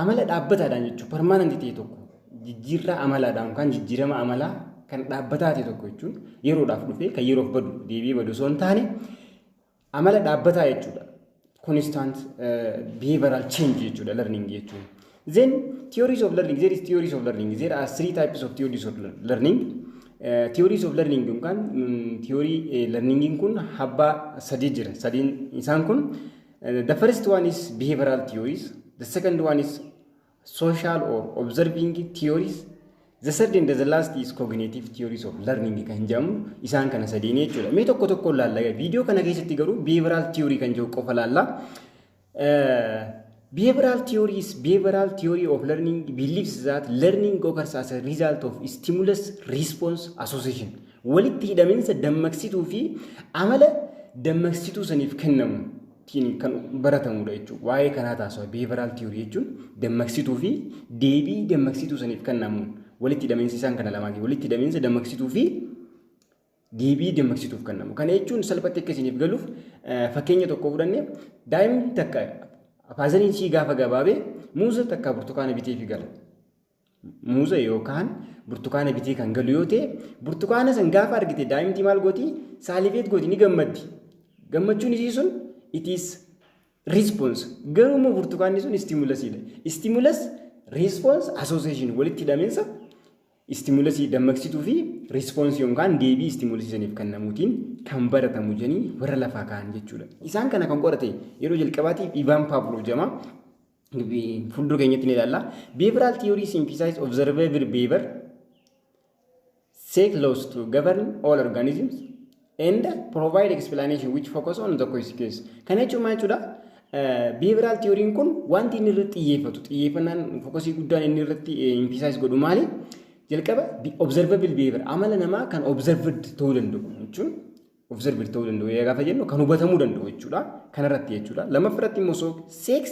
Amala dhaabbataadhaan jechuun permanent ta'e tokko jijjiirraa amalaadhaan yookaan jijjiirama amalaa kan dhaabbataa ta'e tokko jechuun yeroodhaaf dhufee kan yeroof badu deebi'ee badu osoo hin taane amala dhaabbataa jechuudha. Constant behavioral change jechuudha learning jechuun. Then theories of learning there is theories of learning there are three types of theories of learning. Theories of learning yookaan theory learning kun habbaa sadii jira. Sadiin isaan kun The first one is behavioral theories. The second one is social or observing theories. The third and the last is cognitive theories of learning kan jedhamu isaan kana sadeen jechuudha. Mee tokko tokko laalla viidiyoo kana keessatti garuu behavioral theory kan jedhu qofa laalla. Behavioral theory is behavioral theory of learning believes that learning occurs as a result of stimulus response association. Walitti hidhaminsa dammaqsituu fi amala dammaqsituu saniif kennamu tiin kan baratamudha jechuudha. Waa'ee kanaa taasisa behavioral theory jechuun dammaqsituu fi deebii dammaqsituu saniif kennamuun walitti hidhaminsi isaan kana lamaati. Walitti hidhaminsa dammaqsituu fi deebii dammaqsituuf kennamu. Kana jechuun salphatti akka isiniif galuuf fakkeenya tokko fudhanne daa'imni takka faazariin ishii gaafa gabaabee muuza takka burtukaana biteefi gala. muuza yookaan burtukaana bitee kan galu yoo ta'e burtukaana san gaafa argite daa'imti maal gooti saalifeet gooti ni gammaddi gammachuun isii sun it is response garuu immoo burtukaanni sun istimulasiidha istimulas response association walitti hidhaminsa istimulasii dammaqsituu fi response yookaan deebii istimulasii saniif kennamuutiin kan baratamu jedhanii warra lafaa ka'an jechuudha. Isaan kana kan qorate yeroo jalqabaatiif Ivaan Paavloo jedhama. fuuldura keenyatti ni ilaalla. Behavioral theories emphasize observable behavior say close to govern all organisms and provide explanation which focus on the consequence. Kana jechuun maal jechuudha? Behavioral theory'n kun wanti inni irratti xiyyeeffatu xiyyeeffannaan fokosii guddaan inni irratti emphasize godhu maali? Jalqaba observable behavior amala namaa kan observed ta'uu danda'u jechuun of servir ta'uu danda'u eegaa gaafa jennu kan hubatamuu danda'u jechuudha kanarratti jechuudha lammaffaa irratti immoo soo sex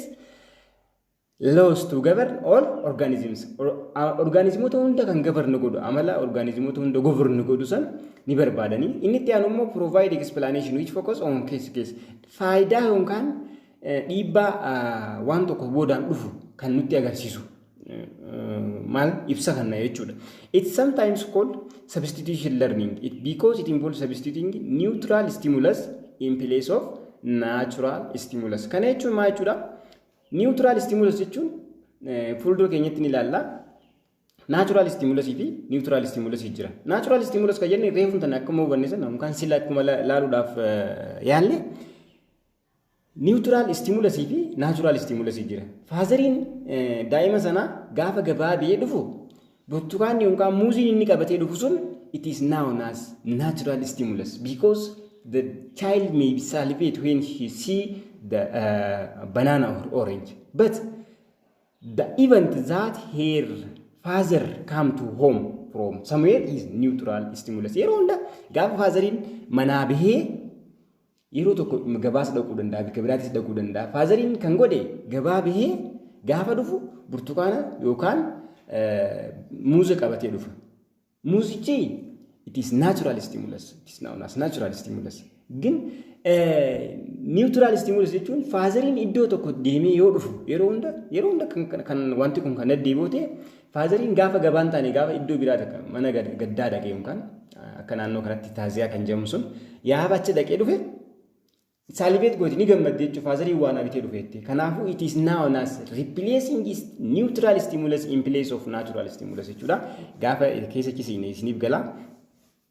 laws to govern all organisms orgaanizimoota hunda kan govern godhu amala orgaanizimoota hunda govern godhu san ni barbaadanii inni itti aanu immoo provide explanation which focus on case case faayidaa yookaan dhiibbaa waan tokko boodaan dhufu kan nutti agarsiisu maal ibsa kanna jechuudha. It's sometimes called substitution learning it because it involves substituting neutral stimulus in place of natural stimulus. Kana jechuun maal jechuudha? Neutral stimulus jechuun fuuldura keenyatti ni ilaalla. Natural stimulus fi neutral stimulus jira. Natural stimulus kan jenne reefu tan akkuma hubanne sana yookaan sila akkuma laaluudhaaf yaalle Niwutiraal istimulasii fi naachuraal istimulasii jira. Faazariin daa'ima sanaa gaafa gabaa biyee dhufu burtukaanni yookaan muuziin inni qabatee dhufu sun it is known as natural stimulus because the child may salivate when he see the uh, banana or orange but the event that her father come to home from somewhere is neutral stimulus yeroo hunda gaafa faazariin manaa bahee Yeroo tokko gabaas dhaquu danda'a, bakka biraatis dhaquu danda'a. Faazariin kan godhe gabaa bahee gaafa dhufu burtukaana yookaan muuza qabatee dhufa. Muuzichi it is natural stimulus, it is known as natural stimulus. Gin neutral stimulus jechuun faazariin iddoo tokko deemee yoo dhufu yeroo hunda yeroo hunda kan wanti kun kan deddeebi'u ta'e Faazariin gaafa gabaa hin taane gaafa iddoo biraa takka mana gaddaa dhaqee yookaan akka naannoo kanatti taaziyaa kan jedhamu sun yaaba achi dhaqee dhufe saalibeet gooti ni gammadde jechuun faazariin waan abitee dhufeetti. Kanaafuu it is now as replacing is neutral stimulus in place of natural stimulus jechuudha. Gaafa keessa cisiine isiniif gala.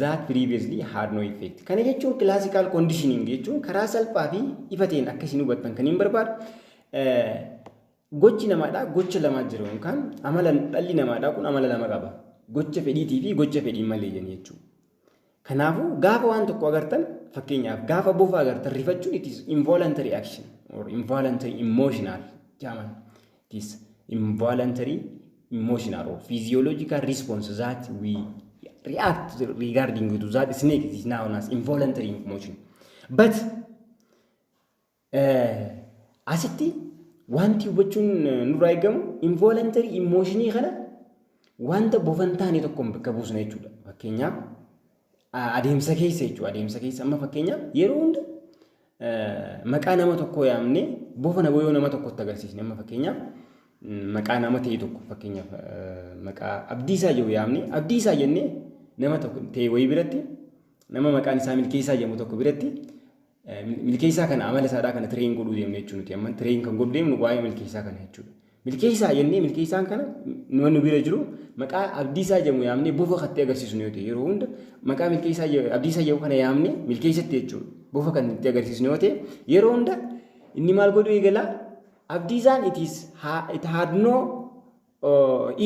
that previously had no effect. Kana jechuun classical conditioning jechuun karaa salphaa fi ifa ta'een akka isin hubattan kan hin barbaadu gochi namaadhaa gocha lamaa jiru yookaan amala dhalli namaadhaa kun amala lama qaba. Gocha fedhiitii fi gocha fedhiin malee jenna jechuudha. Kanaafuu gaafa waan tokko agartan fakkeenyaaf gaafa bofa agartan rifachuun it is involuntary action or involuntary emotional jaaman. this involuntary emotional or physiological response that we react regarding to that snake is known as involuntary emotion. But uh, asitti wanti hubachuun nurraa eegamu involuntary emotionii kana wanta bofan taane tokkoon bakka buusna jechuudha. Fakkeenyaaf adeemsa keessa jechuudha. Adeemsa keessa amma fakkeenyaaf yeroo hunda maqaa nama tokkoo yaamne bofa nama yoo nama tokkotti agarsiisne amma fakkeenyaaf maqaa nama ta'e tokko fakkeenyaaf maqaa abdiisaa jiru yaamne abdiisaa jennee nama tokko ta'e wayii biratti nama maqaan isaa milkeessaa jedhamu tokko biratti milkeessaa kana amala isaadhaa kana tireen godhuu deemne jechuudha nuti amma tireen kan godhu deemnu waa'ee milkeessaa kana jechuudha. Milkeessaa jennee milkeessaan kana nama nu bira jiru maqaa abdiisaa jedhamu yaamnee bofa kattee agarsiisnu yoo ta'e yeroo hunda maqaa milkeessaa abdiisaa jedhamu kana yaamnee milkeessatti jechuudha. Bofa kan itti agarsiisnu yoo ta'e yeroo hunda inni maal godhuu eegala abdiisaan it is it had no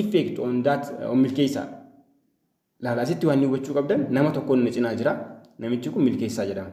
effect on that on milkeessaa. Laala asitti waan hubachuu qabdan nama tokkoon na cinaa jira namichi kun milkeessaa jedhama.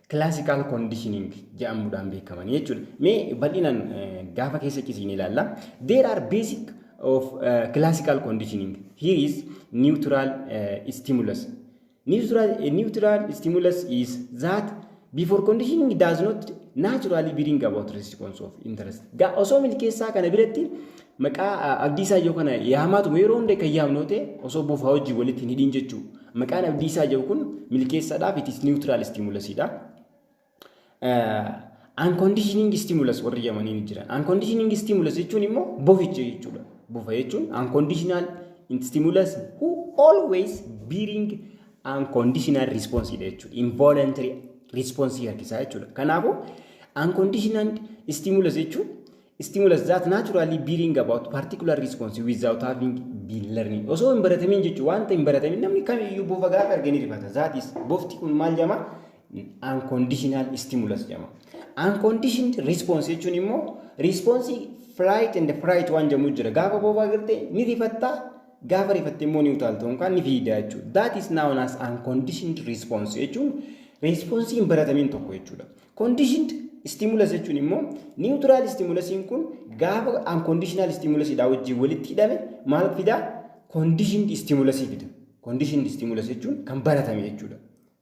classical conditioning jedhamuudhaan beekamanii jechuudha. Mee bal'inaan gaafa keessa cisiin ilaalla. There are basic of uh, classical conditioning. Here is neutral uh, stimulus. Neutral, uh, neutral stimulus is that before conditioning does not naturally bring about response of interest. Ga osoo milkeessaa kana biratti Maqaa Abdiisaa Ijoo kana yaamaatuma yeroo hunda kan yaamnu yoo ta'e osoo bofaa wajjin walitti hin hidhiin jechuu. Maqaan Abdiisaa Ijoo kun milkeessaadhaaf it is neutral stimulus dha. Unconditioning stimulus warri yamanii ni jiran. Unconditioning stimulus jechuun immoo boficha jechuudha. Bofa jechuun unconditional stimulus who always bearing unconditional response dha jechuudha. Involuntary response harkisaa jechuudha. Kanaafuu unconditional stimulus jechuun Stimulus that naturally bring about particular response without having been learning. Osoo hin baratamin jechuun wanta hin baratamin namni kamiyyuu bofa gaafa arge ni rifata. That is bofti kun maal jedhama? Unconditional stimulus jedhama. Unconditioned response jechuun immoo response flight and fright waan jedhamu jira. Gaafa bofa agarte ni rifatta gaafa rifatte immoo ni utaalta yookaan ni fiida jechuudha. That is known as unconditioned response jechuun response hin baratamin tokko jechuudha. Conditioned stimulus jechuun immoo neutral stimulusiin kun gaafa unconditional stimulus dhaa wajjin walitti hidhame maal fidaa? Conditioned stimulus fida. Conditioned stimulus jechuun kan baratame jechuudha.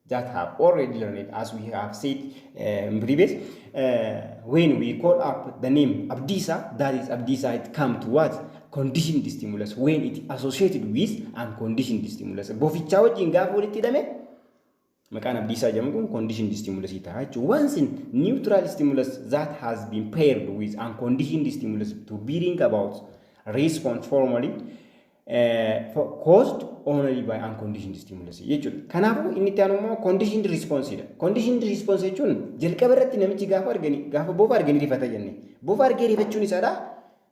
That have already learned as we have said uh, in previous uh, when we call up the name Abdisa that is Abdisa it come to what? Conditioned stimulus when it associated with unconditioned stimulus. Bofichaa wajjin gaafa walitti hidhame Maqaan abdiisaa jedhamu kun conditioned stimulus ta'a jechuudha. Once in neutral stimulus that has been paired with unconditioned stimulus to bring about response formally uh, for- caused only by unconditioned stimulus jechuudha. Kanaafuu inni itti aanu immoo conditioned response dha. Conditioned response jechuun jalqaba irratti namichi gaafa argani gaafa bofa arganii rifata jenne. Bofa argee rifachuun isaadha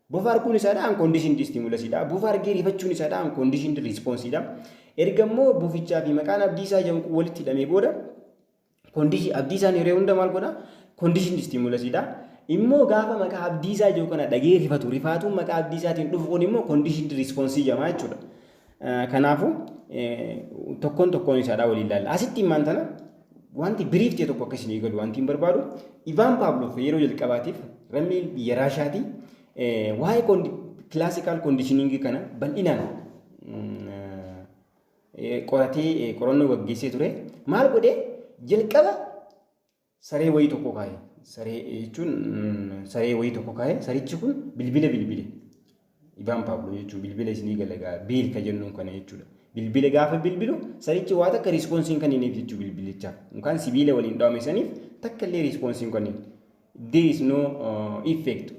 Bofa arguun isaa dha unconditioned stimulus dha. Bofa argee rifachuun isaa dha unconditioned response dha. Erga immoo bofichaa fi maqaan abdiisaa jedhamu kun walitti hidhamee booda condition abdiisaan yeroo hunda maal godha conditioned stimulus dha. Immoo gaafa maqaa abdiisaa jedhu kana dhagee rifatu rifaatuun maqaa abdiisaatiin dhufu kun immoo conditioned response jedhama jechuudha. Kanaafuu tokkoon tokkoon isaadhaa waliin ilaalla. Asitti immaan tana wanti biriif ta'e tokko akka isin eegalu wanti hin barbaadu. Ivaan Paavloof yeroo jalqabaatiif lammii biyya Raashaati waa'ee kilaasikaal koondishiniingii kana bal'inaan qoratee qorannoo gaggeessee ture. Maal godhee jalqaba saree wayii tokko kaa'e. Saree jechuun saree wayii tokko kaa'e. Sarichi kun bilbila bilbile. Ibaan Paablo jechuun bilbila isinii galagaa biil ka jennuun kana jechuudha. Bilbile gaafa bilbilu sarichi waa takka riispoonsiin kan hiniif jechuu bilbilichaaf. Yookaan sibiila waliin dhawame saniif takka illee riispoonsiin kan hin. There is no uh, effect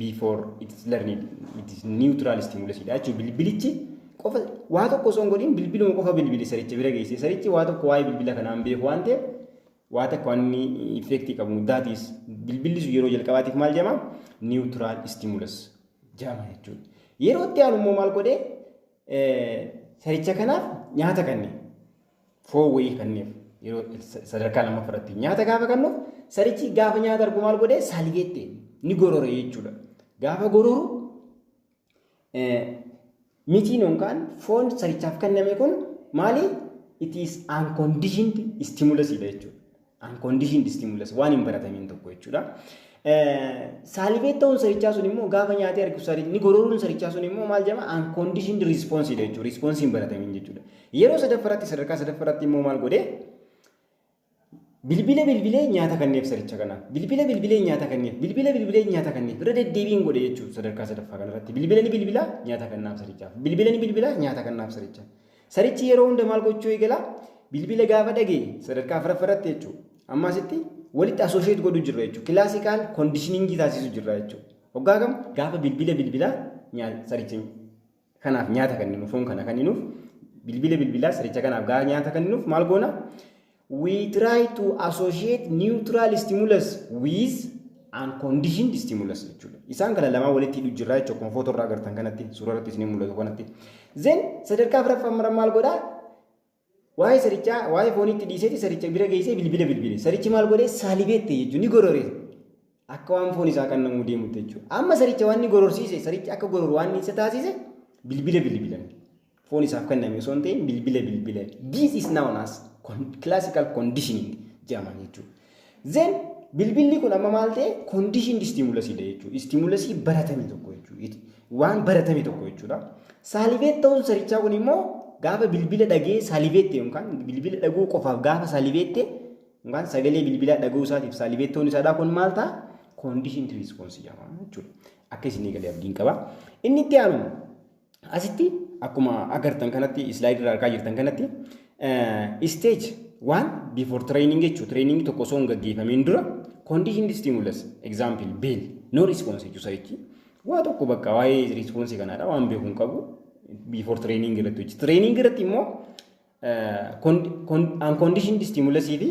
before it is learned. It is neutral stimulus dha jechuudha. Bilbilichi qofa waa tokko osoo hin godhin bilbiluma qofa bilbile saricha bira geesse. Sarichi waa tokko waa'ee bilbila kanaan beeku waan ta'eef Waa takka waan inni effect qabu that is bilbilli sun yeroo jalqabaatiif maal jedhama neutral stimulus jedhama jechuudha. Yeroo itti aanu immoo maal godhee saricha kanaaf nyaata kanne foon wayii kanneef yeroo sadarkaa lammaffaa irratti nyaata gaafa kannuuf sarichi gaafa nyaata argu maal godhee saligeette ni gorore jechuudha. Gaafa gororu Mitiin yookaan foon sarichaaf kenname kun maali? It is unconditioned stimulus dha jechuudha. Unconditioned stimulus waan hin baratamiin tokko jechuudha. Saalibeet ta'uun sarichaa sun immoo gaafa nyaatee argu sarichni gorooruun sarichaa sun immoo maal jedhama? Unconditioned response dha jechuudha. Response hin baratamiin jechuudha. Yeroo sadaffaratti sadarkaa sadaffaratti immoo maal godhee? Bilbila bilbilee nyaata kanneef saricha kanaaf. Bilbila bilbilee nyaata kanneef. Bilbila bilbilee nyaata kanneef. Irra deddeebiin godhe jechuudha sadarkaa sadaffaa kanarratti. Bilbila ni bilbilaa nyaata kannaaf sarichaaf. Bilbila ni bilbilaa nyaata kannaaf sarichaaf. Sarichi yeroo hunda maal gochuu eegala? Bilbila gaafa dhagee sadarkaa afraffaa irratti jechuudha. Amma asitti walitti asoosheet godhu jirra jechuudha. Kilaasikaal kondishiningii taasisu jirra jechuudha. Hoggaa kam gaafa bilbila bilbilaa nyaata saricha kanaaf nyaata kenninu foon kana kenninuuf bilbila bilbilaa siricha kanaaf gaa nyaata kenninuuf maal goona we try to associate neutral stimulus with unconditioned stimulus jechuudha isaan kana lamaa walitti hidhu jirraa jechuudha kun footoo irraa agartan kanatti suuraa irratti isin mul'atu kanatti then sadarkaa afraffaa maal godhaa Waa'ee sarichaa waa'ee fooniitti dhiiseeti saricha bira geessee bilbila bilbile. Sarichi maal godhee saalibeette jechuun ni gorore. Akka waan foon isaa qannamuu deemutti jechuudha. Amma saricha waan ni gororsiise sarichi akka gororu waan isa taasise bilbila bilbilan. Foon isaaf kenname osoo hin ta'in bilbila bilbilan. This is known as classical conditioning jedhama jechuudha. Then bilbilli kun amma maal ta'e conditioned stimulus dha jechuudha. Stimulus baratame tokko jechuudha. Waan baratame tokko jechuudha. Salivate ta'uun sarichaa kun immoo gaafa bilbila dhagee salivate ta'e yookaan bilbila dhaguu qofaaf gaafa salivate ta'e yookaan sagalee bilbilaa dhaguu isaatiif salivate ta'uun isaa kun maal ta'a? Conditioned response jedhama jechuudha. Akka isin eegalee abdiin qaba. Inni itti aanu Asitti akkuma agartan kanatti slide irra argaa jirtan kanatti stage waan before training jechuu training tokko osoo hin gaggeeffamiin dura conditioned stimulus example bell no response jechuu sarichi waa tokko bakka waa'ee response kanaadha waan beeku hin qabu before training irratti hojjetu. Training irratti immoo unconditioned stimulus fi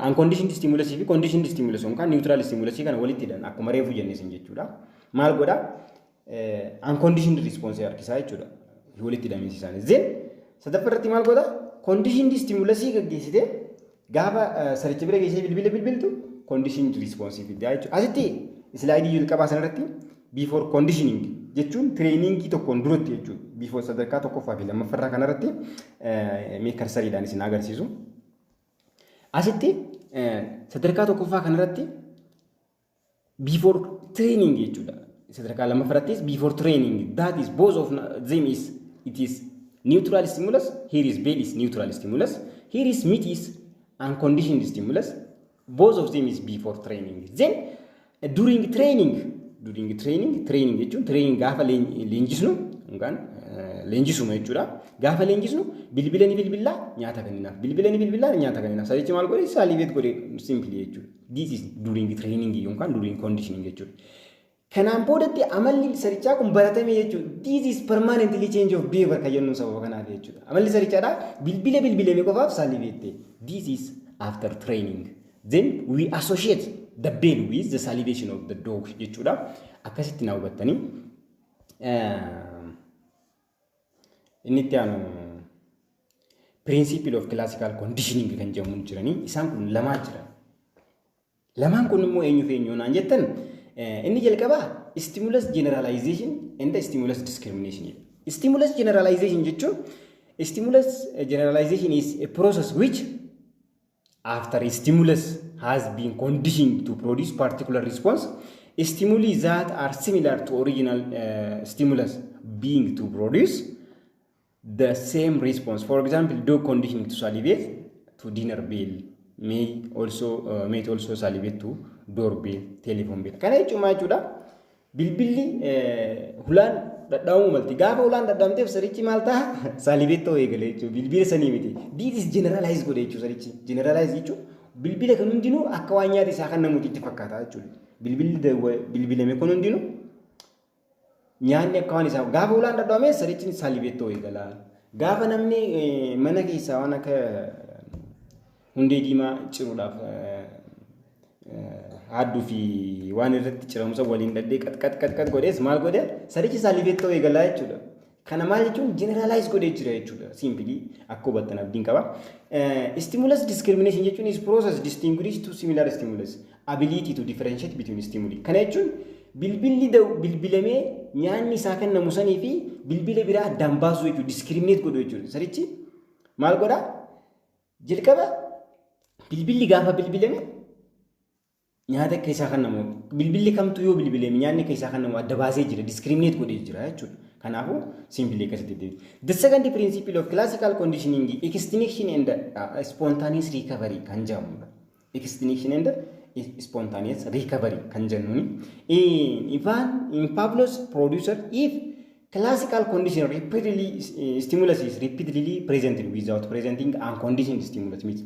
Unconditioned stimulus fi conditioned stimulus yookaan neutral stimulus kana walitti hidhan akkuma reefu jenne isin jechuudha. Maal godha? Unconditioned response harkisaa jechuudha. Walitti hidhamiinsi isaanii. Zin sadaffaa irratti maal godha? Conditioned stimulus gaggeessitee gaafa saricha bira geessee bilbila bilbiltu conditioned response fiddaa jechuudha. Asitti islaayidii jalqabaa sanarratti Before conditioning jechuun tireeniingii tokkoon duratti jechuudha. Before sadarkaa tokkoffaa fi lammaffarraa kanarratti mee karsariidhaan isin agarsiisu. Asitti sadarkaa tokkoffaa kanarratti before training jechuudha. Sadarkaa lammaffarattis before training that is both of them is it is neutral stimulus here is bed is neutral stimulus here is meat is unconditioned stimulus Both of them is before training. Then during training, during training, training jechuun training gaafa leen- leenjisnu yookaan eh, leenjisuma jechuudha. Gaafa leenjisnu bilbila ni bilbillaa nyaata kenninaaf. Bilbila ni bilbillaa nyaata kenninaaf. Salichi maal godhe? Saliibeet godhe simply jechuudha. This is during training yookaan during conditioning jechuudha. Kanaan boodatti amalli sarichaa kun baratame jechuudha. This is permanently change of behavior kan jennu sababa kanaaf jechuudha. Amalli sarichaadhaa bilbila bilbilame qofaaf saliveette. This is after training. Then we associate the bell with the salivation of the dog jechuudha. Akkasitti na hubattanii. Inni itti aanu principle of classical conditioning kan jedhamu jiranii isaan kun lamaa jiran. Lamaan kun immoo eenyu fi eenyu naan jettan inni jalqabaa stimulus generalization and stimulus discrimination jedha. Stimulus generalization jechuun stimulus generalization is a process which after a stimulus has been conditioned to produce particular response stimuli that are similar to original uh, stimulus being to produce the same response. For example, dog conditioning to salivate to dinner bell may also uh, may also salivate to door bell, telephone bell. Kana jechuun maal jechuudha? Bilbilli hulaan dhadhaa'uu malti. Gaafa hulaan dhadhaamteef sarichi maal ta'a? Salivate ta'uu eegale jechuudha. Bilbila sanii miti. This is generalize godhe jechuudha sarichi. Generalize jechuun bilbila kan hundinuu akka waan nyaata isaa kan namuutti itti fakkaata jechuudha. Bilbilli bilbilame kun hundinuu Nyaanni akka waan isaa gaafa ulaan dhadhoomee sarichi salibettoo eegala. Gaafa namni mana keessaa waan akka hundee diimaa ciruudhaaf haadduu fi waan irratti ciramusa waliin dhaddee qaxqaxqaxqax godhees maal godhe sarichi salibettoo eegalaa jechuudha. Kana maal jechuun generalize godhee jira jechuudha. Simply akka hubattan abdiin qaba. Eh, stimulus discrimination jechuun is process distinguished to similar stimulus ability to differentiate between stimuli. Kana jechuun bilbilli da'u bilbilamee nyaanni isaa kennamu sanii fi bilbila biraa addaan baasuu jechuudha. Discriminate godhuu jechuudha. Sarichi maal godhaa? Jalqaba bilbilli gaafa bilbilame nyaata keessaa kennamu bilbilli kamtu yoo bilbilee nyaanni keessaa kennamu adda baasee jira discriminate godhee jira jechuudha. Kanaafuu simply akkasitti deebi. The second principle of classical conditioning extinction and uh, spontaneous recovery kan jedhamudha. Extinction and spontaneous recovery kan jennuuni. In Ivan in Pavlos producer if classical condition repeatedly uh, stimulus is repeatedly presented without presenting unconditioned stimulus means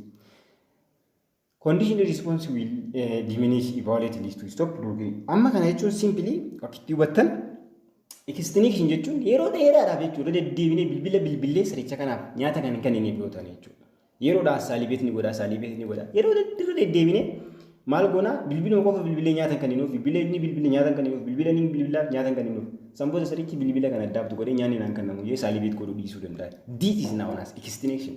Condition response will uh, diminish if volatility is to stop during. Amma kana jechuun simply akkitti hubattan extinction jechuun yeroo dheeraadhaaf jechuudha deddeebinee bilbila bilbilee siricha kanaaf nyaata kan hin kennineef yoo ta'an jechuudha. Yeroodhaa saalibeet ni godhaa saalibeet ni godhaa yeroo deddeebinee deddeebinee maal goonaa bilbiluma qofa bilbilee nyaata hin kenninuuf bilbila inni bilbile nyaata hin kenninuuf bilbila inni bilbilaaf nyaata hin kenninuuf sanboota sirichi bilbila kan addaabtu godhee nyaanni naan kennamu jee saalibeet godhuu dhiisuu danda'a. This is known as extinction.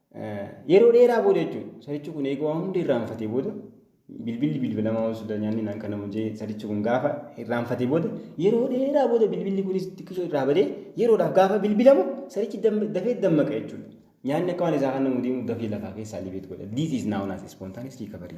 Yeroo dheeraa booda jechuudha. Sarichi kun eeguu waan hundi irraanfatee booda bilbilli bilbilamaa waan suuta nyaanni naan kana mujee sarichi kun gaafa irraanfatee booda yeroo dheeraa booda bilbilli kunis xiqqisoo irraa badee yeroodhaaf gaafa bilbilamu sarichi dafee dammaqa jechuudha. Nyaanni akka waan isaa kana mudee dafee lafaa keessaa libeet godha. This is known as spontaneous recovery.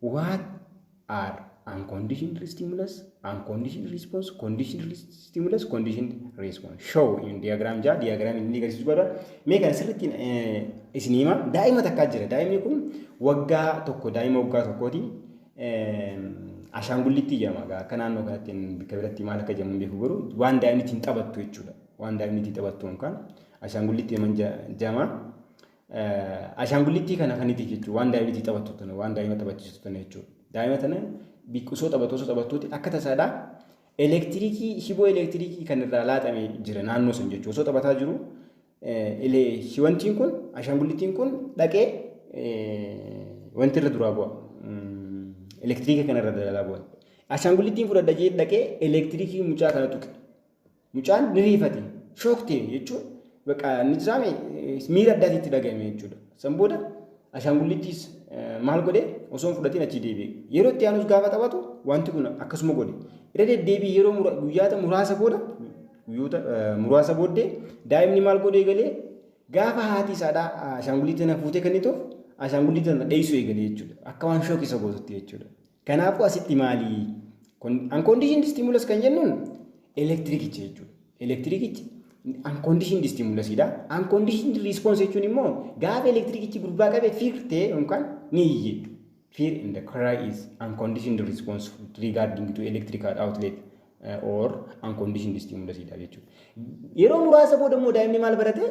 What are unconditional stimulus, unconditional response, conditional stimulus, conditional response? Show in diagram jaa diagram inni agarsiisu godha. Mee kana sirriitti isin hima. Daa'ima takkaa jira. Daa'imni kun waggaa tokko daa'ima waggaa tokkooti. Ashaangullitti jedhama. Akka naannoo kanatti bakka biratti maal akka jedhamu beeku garuu waan daa'imni ittiin taphattu jechuudha. Waan daa'imni ittiin taphattu yookaan ashaangullitti jedhama. Ashaangullittii kana kan itti jechuudha. Waan daa'imni itti taphattu tana, waan daa'ima taphachiistu tana jechuudha. Daa'ima tana osoo taphattu osoo taphattuuti akka tasaadha elektirikii shiboo elektirikii kan irraa laaxame jira naannoo sun jechuudha. Osoo taphataa jiru wantiin kun ashaangullittiin kun dhaqee wanti irra duraa bu'a. Elektirikii kana irra dalaa bu'a. Ashaangullittiin fudhadha jee dhaqee elektirikii mucaa kana tuqe. Mucaan ni riifate, shook ta'e jechuun baqa ni jiraame miira addaati itti dhaga'ame jechuudha. San booda ashaangulliittiis maal godhe osoo hin fudhatiin achii deebi'e. Yeroo itti aanus gaafa taphatu wanti kun akkasuma godhe. Irra deddeebii yeroo mura, guyyaata muraasa booda guyyoota muraasa booddee daa'imni maal godhe eegalee gaafa haati isaadhaa ashaangulliitti na fuutee kennituuf ashaangulliitti na dheessuu eegalee jechuudha. Akka waan shook isa gootutti jechuudha. Kanaafuu asitti maali? Unconditioned stimulus kan jennuun elektirikicha jechuudha. Elektirikichi unconditioned stimulus dha. Unconditioned response jechuun immoo gaafa elektirikichi gurbaa qabe fiir ta'e yookaan ni iyye. Fear in the cry is unconditioned response regarding to electrical outlet uh, or unconditioned stimulus dha jechuudha. Yeroo muraasa booda immoo daa'imni maal barate?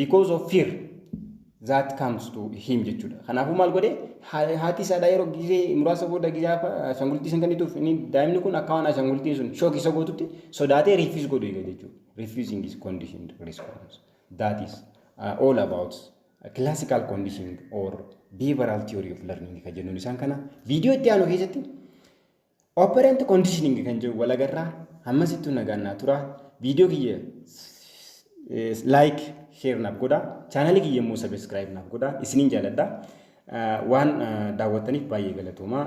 because of fear that comes to him jechuudha. Kanaafuu maal godhe haati isaadhaa yeroo gizee muraasa booda gizee ashangulittii san kennituuf inni daa'imni kun akka waan ashangulittiin sun shook isa gootutti sodaatee refuse godhu eega jechuudha. Refusing is conditioned response. That is uh, all about classical conditioning or behavioral theory of learning ka jennuun isaan kana viidiyoo itti aanu keessatti Operant conditioning kan jiru wal agarraa hammas ittuu nagaan naa tura viidiyoo kiyya like share naaf godha chaanalii kiyya immoo subscribe naaf godha isiniin jaaladha waan daawwattaniif baay'ee galatoomaa.